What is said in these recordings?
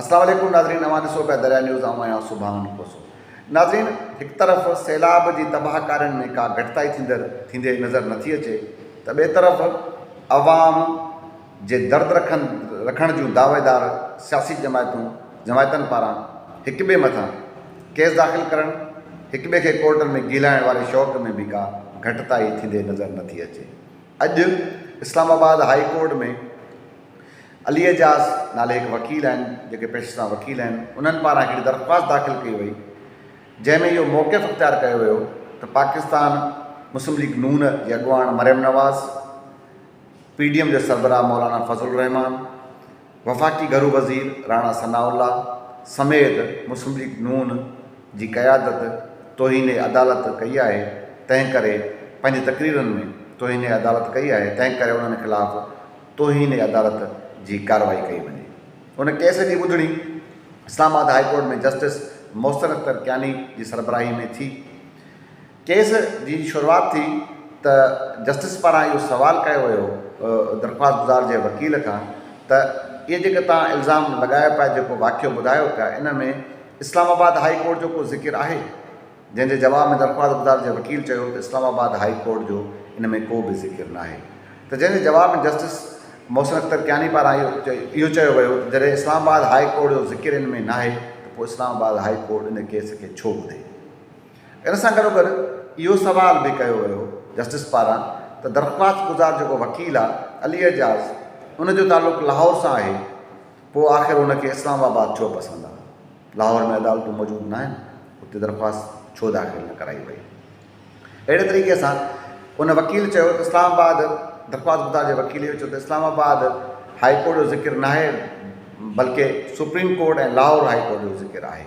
السلام عليڪم ناظرين اوهان ڏسو پيا دريا نيوز آئون آهيان سبحان کوسو ناظرين هڪ طرف سيلاب جي تباهه ڪارين ۾ ڪا گهٽتائي ٿيندر ٿيندي نظر نٿي اچي ته ٻئي طرف عوام جي درد رکن رکڻ جون دعويدار سياسي جماعتون جماعتن پاران هڪ ٻئي مٿان ڪيس داخل ڪرڻ هڪ ٻئي کي ڪورٽن ۾ گيلائڻ واري شوق ۾ به ڪا گهٽتائي ٿيندي نظر نٿي اچي اڄ اسلام آباد هائي ڪورٽ ۾ علي اعجاز نالي هڪ وڪيل آهن جيڪي پيشي سان وڪيل آهن انهن پاران هڪڙي درخواست داخل ڪئي وئي جنهن ۾ اهو موقف اختيار ڪيو ويو ته پاڪستان مسلم ليگ نون جي اڳواڻ Maryam Nawaz, P D M جي سربراهه مولانا فضل الرحمان، وفاقي گهرو وزير راڻا ثناء الله سميت مسلم ليگ نون جي قيادت توهين عدالت ڪئي آهي تنهنڪري پنهنجي تقريرن ۾ توهين عدالت ڪئي آهي تنهنڪري انهن خلاف توهين عدالت جي ڪارروائي ڪئي وڃي. ان ڪيس جي ٻڌڻي Islamabad high court ۾ justice Mohsin Akhtar Kayani جي سربراهي ۾ ٿي. ڪيس جي شروعات ٿي ته جسٽس پاران اهو سوال ڪيو ويو درخواستگذار جي وڪيل کان ته اهي جيڪي توهان الزام لڳايو پيا جيڪو واقعو ٻڌايو پيا ان ۾ اسلام آباد هاء ڪورٽ جو ڪو ذڪر آهي؟ جنهن جي جواب ۾ درخواستگذار جي وڪيل چيو ته اسلام آباد هائي ڪورٽ جو ان ۾ ڪو به ذڪر ناهي ته جنهن جي جواب ۾ جسٽس محسن اختر ڪياني پاران اهو چيو ويو ته جڏهن اسلام آباد هائي ڪورٽ جو ذڪر ان ۾ ناهي ته پوء اسلام آباد هائي ڪورٽ ان ڪيس کي ڇو ٻڌي ان سان گڏوگڏ اهو سوال به ڪيو ويو جسٽس پاران ته درخواستگذار جيڪو وڪيل آهي علي اعجاز ان جو تعلق لاهور سان آهي پوء آخر ان کي اسلام آباد ڇو پسند آهي. لاهور ۾ عدالتون موجود ناهن، اتي درخواست ڇو داخل نه ڪرائي وئي؟ اهڙي طريقي سان ان وڪيل چيو ته اسلام آباد درخواستگذار جي وڪيل اهو چيو ته اسلام آباد هائي ڪورٽ جو ذڪر ناهي بلڪه supreme court ۽ Lahore high court جو ذڪر آهي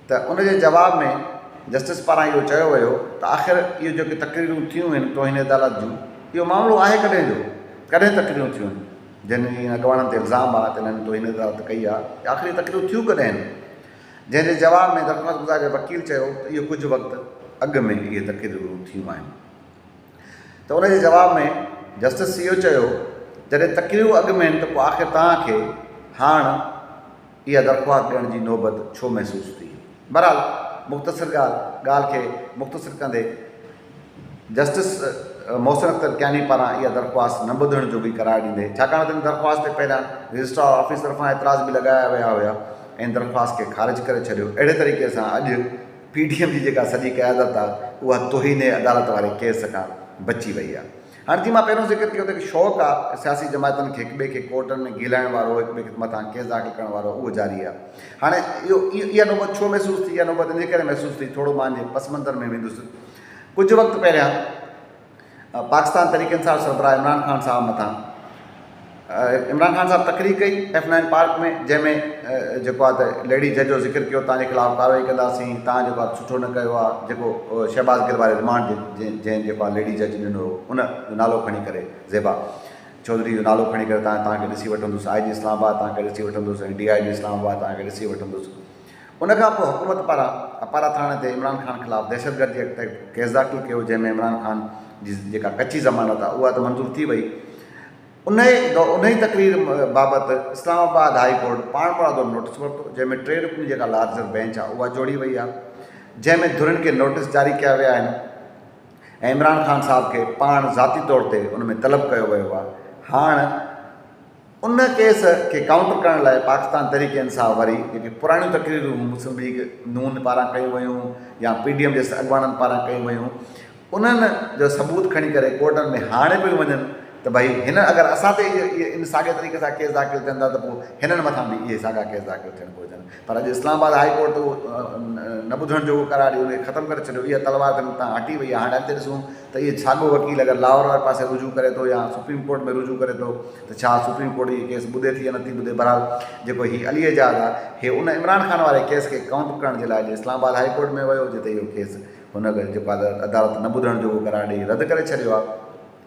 ته ان جي جواب ۾ جسٽس پاران اهو چيو ويو ته آخر اهي جيڪي تقريرون ٿيون هن توهين عدالت جون اهو معاملو آهي ڪڏهن جو ڪڏهن تقريرون ٿيون جن جي اڳواڻن تي الزام آ ته انهن توهين عدالت ڪئي آ، اهي آخري تقريرون ٿيون ڪڏهن آهن؟ جنهن جي جواب ۾ درخواست گذار جي وڪيل چيو ته اهو ڪجهه وقت اڳ ۾ اهي تقريرون ٿيون آهن ته ان جي جواب ۾ جسٽس سيئو چيو جڏهن تقريرون اڳ ۾ آهن ته پوء آخر توهان کي هاڻ اها درخواست ڏيڻ جي نوبت ڇو محسوس ٿي؟ بهرحال مختصر ڳالهه ڳالهه کي مختصر ڪندي جسٽس محسن اختر ڪياني پاران اها درخواست نه ٻڌڻ جوڳي قرار ڏيندي ڇاڪاڻ ته ان درخواست تي پهريان رجسٽرار آفيس طرفان اعتراض به لڳايا ويا هيا ۽ درخواست کي خارج ڪري ڇڏيو اهڙي طريقي سان اڄ پي ڊي ايم جي جيڪا سڄي قيادت آهي اها توهين عدالت واري ڪيس کان بچي وئي آهي هاڻي جيئن مان پهريون ذڪر ڪيو ته هڪ شوق آ ته سياسي جماعتن کي هڪٻئي کي ڪورٽن ۾ گهيلائڻ وارو هڪٻئي کي مٿان ڪيس داخل ڪرڻ وارو اهو جاري آ هاڻي اهو اها نوبت ڇو محسوس ٿي اها نوبت ان ڪري محسوس ٿي ٿورو مان جي پس منظر ۾ ويندس ڪجهه وقت پهريان پاڪستان تحريڪ انصاف سربراهه عمران خان صاحب مٿان عمران خان صاحب تقرير ڪئي ايف نائن پارڪ ۾ جنهن ۾ جيڪو آهي ته ليڊي جج جو ذڪر ڪيو تنهنجي خلاف ڪارروائي ڪنداسين تنهن جيڪو آهي سٺو نه ڪيو آهي جيڪو شهباز گل واري رمانڊ جنهن جيڪو آهي ليڊي جج ڏنو هو ان جو نالو کڻي ڪري زيبا چوڌري جو نالو کڻي ڪري تنهن تنهن کي ڏسي وٺندس آء جي اسلام آباد تنهن کي ڏسي وٺندس ۽ ڊي آء جي اسلام آباد تنهن کي ڏسي وٺندس ان کان پوء حڪومت پاران اپارا ٿاڻي تي عمران خان خلاف دهشتگردي ايڪٽ تحت ڪيس داخل ڪيو جنهن ۾ عمران خان جي جيڪا ڪچي ضمانت آهي اها ته منظور ٿي وئي انهي انهي تقرير بابت اسلام آباد هائي ڪورٽ پاڻمرادو نوٽيس ورتو جنهن ۾ ٽي رڪني جيڪا لارجر بينچ آهي اها جوڙي وئي آهي جنهن ۾ ڌرين کي نوٽيس جاري ڪيا ويا آهن ۽ عمران خان صاحب کي پاڻ ذاتي طور تي ان ۾ طلب ڪيو ويو آهي هاڻ ان ڪيس کي ڪائونٽر ڪرڻ لاء پاڪستان تحريڪ انصاف وري جيڪي پراڻيون تقريرون مسلم ليگ نون پاران ڪيون ويون يا پي ڊي ايم جي اڳواڻن پاران ڪيون ويون انهن جو ثبوت کڻي ڪري ڪورٽن ۾ هاڻي پيون وڃن ته ڀئي هن اگر اسان تي ان ساڳئي طريقي سان ڪيس داخل ٿين ٿا ته پوء هنن مٿان به اهي ساڳا ڪيس داخل ٿيڻ گهرجن پر اڄ اسلام آباد هائي ڪورٽ اهو نه ٻڌڻ جوڳو قرار ڏيو انکي ختم ڪري ڇڏيو اها تلوار تن تان هٽي وئي آهي هاڻي اڳتي ڏسون ته اهي ڇاڳو وڪيل اگر لاهور واري پاسي رجوع ڪري ٿو يا سپريم ڪورٽ ۾ رجوع ڪري ٿو ته ڇا سپريم ڪورٽ اهي ڪيس ٻڌي ٿي يا نٿي ٻڌي بهرحال جيڪو هي علي اعجاز آهي هي ان عمران خان واري ڪيس کي ڪائونٽر ڪرڻ جي لاء اڄ اسلام آباد هائي ڪورٽ ۾ ويو جتي اهو ڪيس هن جيڪو عدالت نه ٻڌڻ جوڳو قرار ڏئي رد ڪري ڇڏيو آهي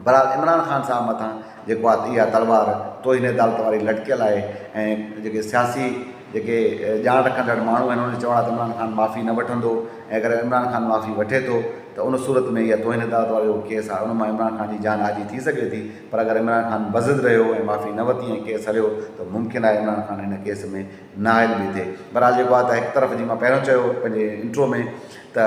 بھرحال عمران خان صاحب مٿان جيڪو آ اها تلوار توهين عدالت واري لٽڪيل آهي ۽ جيڪي سياسي جيڪي ڄاڻ رکندڙ ماڻهو آهن انهن جو چوڻ آهي ته عمران خان معافي نه وٺندو ۽ اگر عمران خان معافي وٺي ٿو ته ان صورت ۾ اها توهين عدالت وارو جيڪو ڪيس آهي ان مان عمران خان جي جان آجي ٿي سگهي ٿي پر اگر عمران خان بضد رهيو ۽ معافي نه وتي ۽ ڪيس هليو ته ممڪن آهي عمران خان ان ڪيس ۾ نااهل به ٿئي بھرحال جيڪو آهي ته هڪ طرف جي مان پهريون چيو پنهنجي انٽرو ۾ ته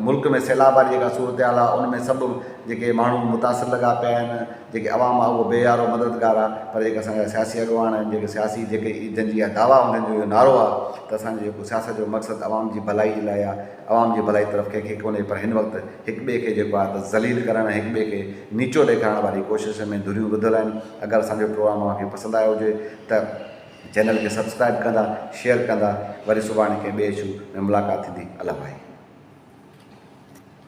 ملڪ ۾ سيلاب واري جيڪا صورتحال آهي ان ۾ سڀ جيڪي ماڻهو متاثر لڳا پيا آهن جيڪي عوام آهي اهو بيهارو مددگار آهي پر جيڪي اسان جا سياسي اڳواڻ آهن جيڪي سياسي جيڪي جن جي اها دعويٰ هوندي آهن جو نعرو آهي ته اسان جي سياست جو مقصد عوام جي ڀلائي جي لاء آهي عوام جي ڀلائي طرف ڪنهن کي ڪونهي پر هن وقت هڪ ٻئي کي جيڪو آهي ته ذليل ڪرڻ هڪ ٻئي کي نيچو ڏيکارڻ واري ڪوشش ۾ ڌريون ٻڌل آهن اگر اسان جو پروگرام اوهان کي پسند آيو هجي ته چينل کي سبسڪرائب ڪندا شيئر ڪندا وري سڀاڻي ڪنهن ٻئي اشو ۾ ملاقات ٿيندي الله ڀائي.